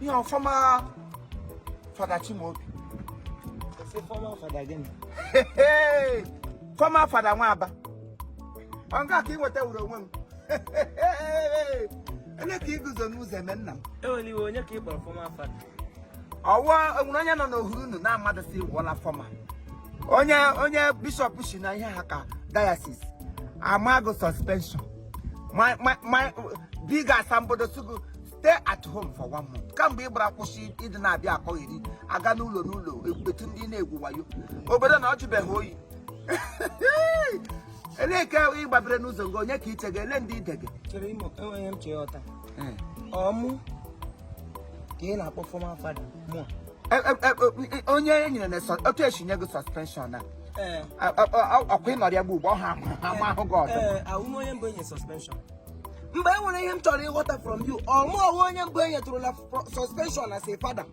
ihe former fada Chimaobi former fada gịnị former fada nwa Aba ọ nke a ka ị nweta wuru onwe m onye ka iguzo n'ụzọ eme nna m enwere iwe onye ka ị kpọrọ former fada ọ wụ enwere onye nọ n'ohuru unu na mmadụ si wụọla former onye onye bishop si na ihe ha ka diocese ama gị suspension ma ma ma biga asambodo sị gị stay at home for one month kamgbe ị bịara kwụsị ịdị na-abịa akọgheri aga n'ụlọ n'ụlọ ekpetu ndị na-egwu wayo obodo na ọ jụbeghị oyi elee ka ị gbabere n'ụzọ gị onye ka iche gị ele ndị ide gị chere imo enweghị m chee ọta ọ mụ ka ị na-akpọ former fada mụ E- e- e- e- onye e nyere na sọ- otu esi nye gị suspension a ee ọkwa ịnọrịa gbu ugbo ọ ha ama ahụ gị ọzọ ee awụ m onye mbụ enye suspension mgbe e nwere ihe m chọrọ ịghọta from you ọ mụwa onye mbụ e nyetụrụla suspension as a fada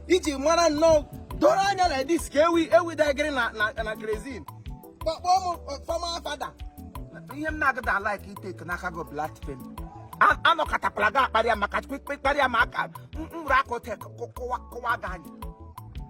i ji mara nnọọ doro anya like this ka ewi ewi dagịrị na na kerosene kpọkpọ m former fada ihe m na-agada alike itake n'aka gị blaspheme anọkatakwala gị akparịa m mkparị ma aka mkpụrụ akụ tek kụwaa gị anya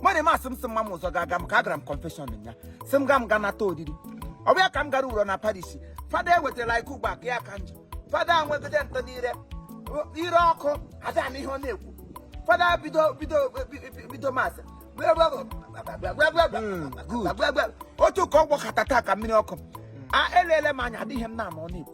mmadụ eme asị m sị mma m ụzọ ga-aga m ka agara m confession ya sị m ga m ga nata oriri ọ bụ ya ka m gara wụrụ na parish fada ewetara nke ugbu a ka ya ka njọ fada nwegide ntọ n'ire ire ọkụ ada ama ihe ọ na-ekwu fada bido bido bido mass otu ka ọ gbọkatata ka mmiri ọkụ a eleele m anya adịghị ihe m na-ama ọ na-ekwu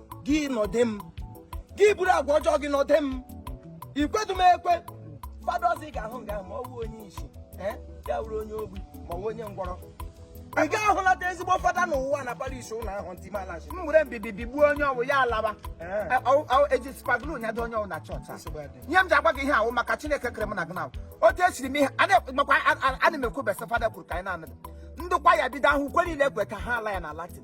gị nọdị m gị buru agwa ọjọọ gị nọdị m ikwedu m ekwe fada ọzọ ị ga-ahụ nga ma ọ bụ onye isi eh? ya wuru onye ogbi ma ọ bụ onye ngwọrọ ị ga ahụlata ezigbo fada n'ụwa na parish unu ahụ ntị malachi m were mbibi bigbuo onye ọ wụ ya alaba eh. eji super glue nyado onye ọ wụ na chọọchị ihe m ji agwa gị ihe ahụ maka Chineke kere m na gị na otu esiri m ihe makwa ana m ekwu besa fada kwuru ka anyị na-anụ ndụkwa ya bido ahụ ukwe niile ekwe ka ha ala ya na Latin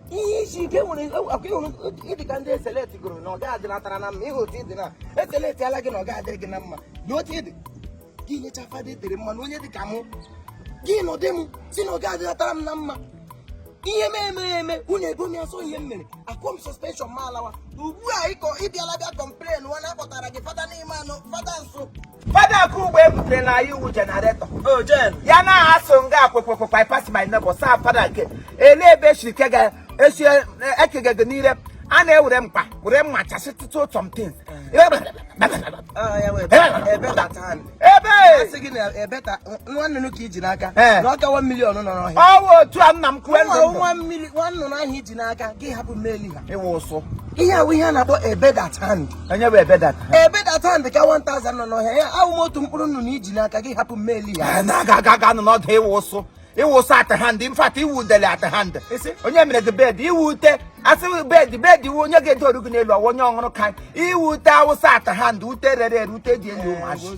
ihe isi ike nwere akwa ị hụrụ ị dị ka ndị eseleti gụrụ na ọ gaghị adịlatara na mma ịhụ otu ịdị na eseleti ala gị na ọ gaghị adịrị gị na mma na otu ịdị gị nyecha fada etere mmanụ onye dị ka mụ gị nọdị m sị na ọ gaghị adịlatara m na mma ihe m eme eme unu ego m ya so ihe m mere akụọ m suspension ma alawa ugbu a ịkọ ịbịala bịa complain nwa na-akpọtara gị fada n'ime anụ fada nso Fada Akugbe butere na anyị iwu generator oh, ya na asụ nga akwekwekwekwa I pass my neighbor saa fada nke ele ebe esi ekega gị n'ire a na-ewere mkpa were mma chasị tụtụ some things ọ wụ otu a nna m kwue nwa nnụnụ ahụ i ji n'aka gị hapụ million a ị wụ ụsụ ihe a wụ ihe a na-akpọ a bird at hand onye bụ a bird at hand a bird at hand ka 1000 nọ n'ọhịa a wụ m otu mkpụrụ nnụnụ i ji n'aka gị hapụ mmeli ya eh, na-aga aga aga nọ n'ọdụ ị wụ ụsụ ị wụ ụsụ at hand in fact ị wụ udele at hand onye mere gị bed ị wụ ute a sị bed bed ị wụ onye ga-edoru gị n'elu ọwa onye ọ hụrụ ka ị wụ ute awụsa at hand ute rere ere ute dị elu ụmụazị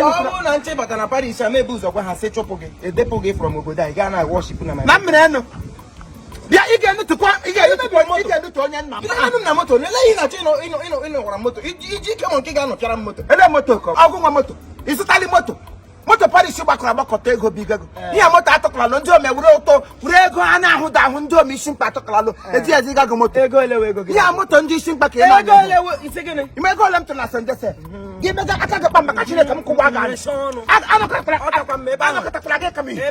ọnwụ na nche bata na parish a m ebu ụzọ gwa ha sị chụpụ gị edepụ gị from obodo anyị gaa na worship na na mmiri enụ bịa ị ga-enutụkwa ị ga-enutụ onye nna m na moto nele ihe na-achọ ịnọwara moto iji ike mụ nke ga-anọchara m moto ele moto ọ gị nwe moto ị zụtali moto moto parish gbakọrọ agbakọta ego bụ igego eh. ihe moto atụkọlalụ ndị ome were ụtọ were ego a na-ahụ da ahụ ndị ome isi mkpa atụkọlalụ eh. eji ezi ịgago moto ihe a moto ndị isi mkpa ka ị na-eme ego ole m tụrụ na St. Joseph hmm. gị mega aka gị kpa maka chineke m kụwa ga anọkọtakwara gị ka m ihe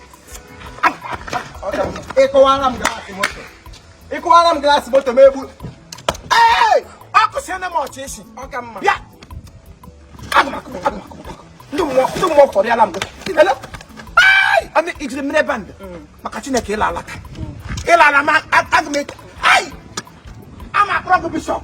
ị kụwara m glass moto ị kụwara m glass moto m egbu ọkụsiene m ọchị isi ọka mma bịa ndị mmụọ fọrịala m ijiri mmiri ebe ndụ mm. maka chineke ịla alaka ịla ala ma aga m ama akpọrọ gị bishop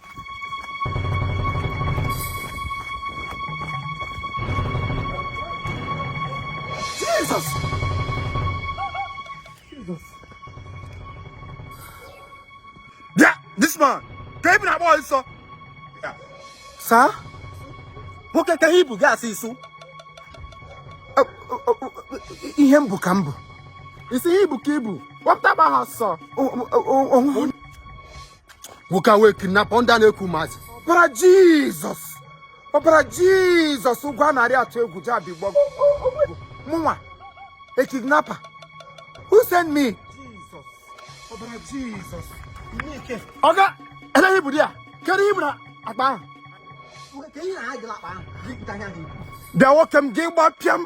Jesus! Jesus. Yeah, this man. Ke ihe i bu na-agba ọsọ. Yeah. Sir? Nwoke ke ihe i bu gị asị isu. Ihe m bu ka m bu. Ị sị ihe i bu ka i bu. Wapụta gba ha sọ. nwoke a wụ kidnapper ndị a na-eku maazị ọbara jizọs ọbara jizọs ụgwọ a narị atụ egwu jabi gbọg mụnwa a kidnapper who send me ọbara jizọs ọga ele ihe i bu there kedu ihe i bu n'akpa ahụ bịa nwoke m gị gbapịa m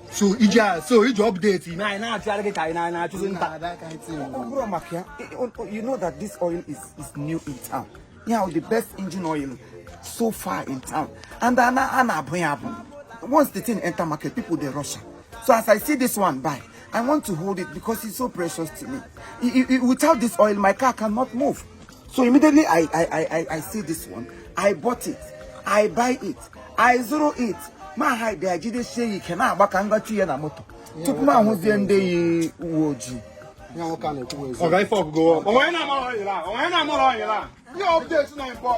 so i ji a so i ji update i mee anyị na-achụgharị gị ka anyị na- na-achụzi nta Ọ bụrụ maka ya, i- o- o- you know that this oil is, is new in town. You know, the best engine oil so far in town. And a na- a na-abụ ya abụ. Once the thing enter market, people dey rush am. So as I see this one buy, I want to hold it because it's so precious to me. I- I- I- without this oil, my car cannot move. so immediately i i i i see this one i bought it i buy it i zụrụ it m hide ya jidesie ya ike na-agba ka m gaa tii ya na moto tupu m ahụzie ndị yi uwe ojii ọga ife ọgụgụ onwe na amụrụ oil a onwe na amụrụ oil a ihe update na impọ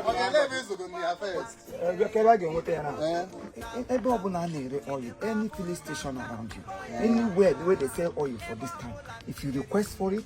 ebe ọbụla a na-ere oil any filling station around you anywhere wey dey sell oil for this town if you request for it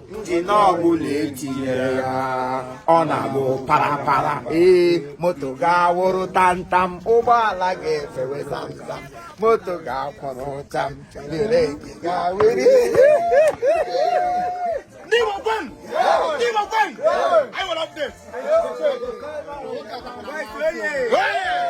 njin ọbụla etinyere ya ọ na-abụ parapara ee moto ga-awụrụ tantam ụgbọala ga-efewe zamzam moto ga-akwụrụ cham bireki ga-ewere Hey!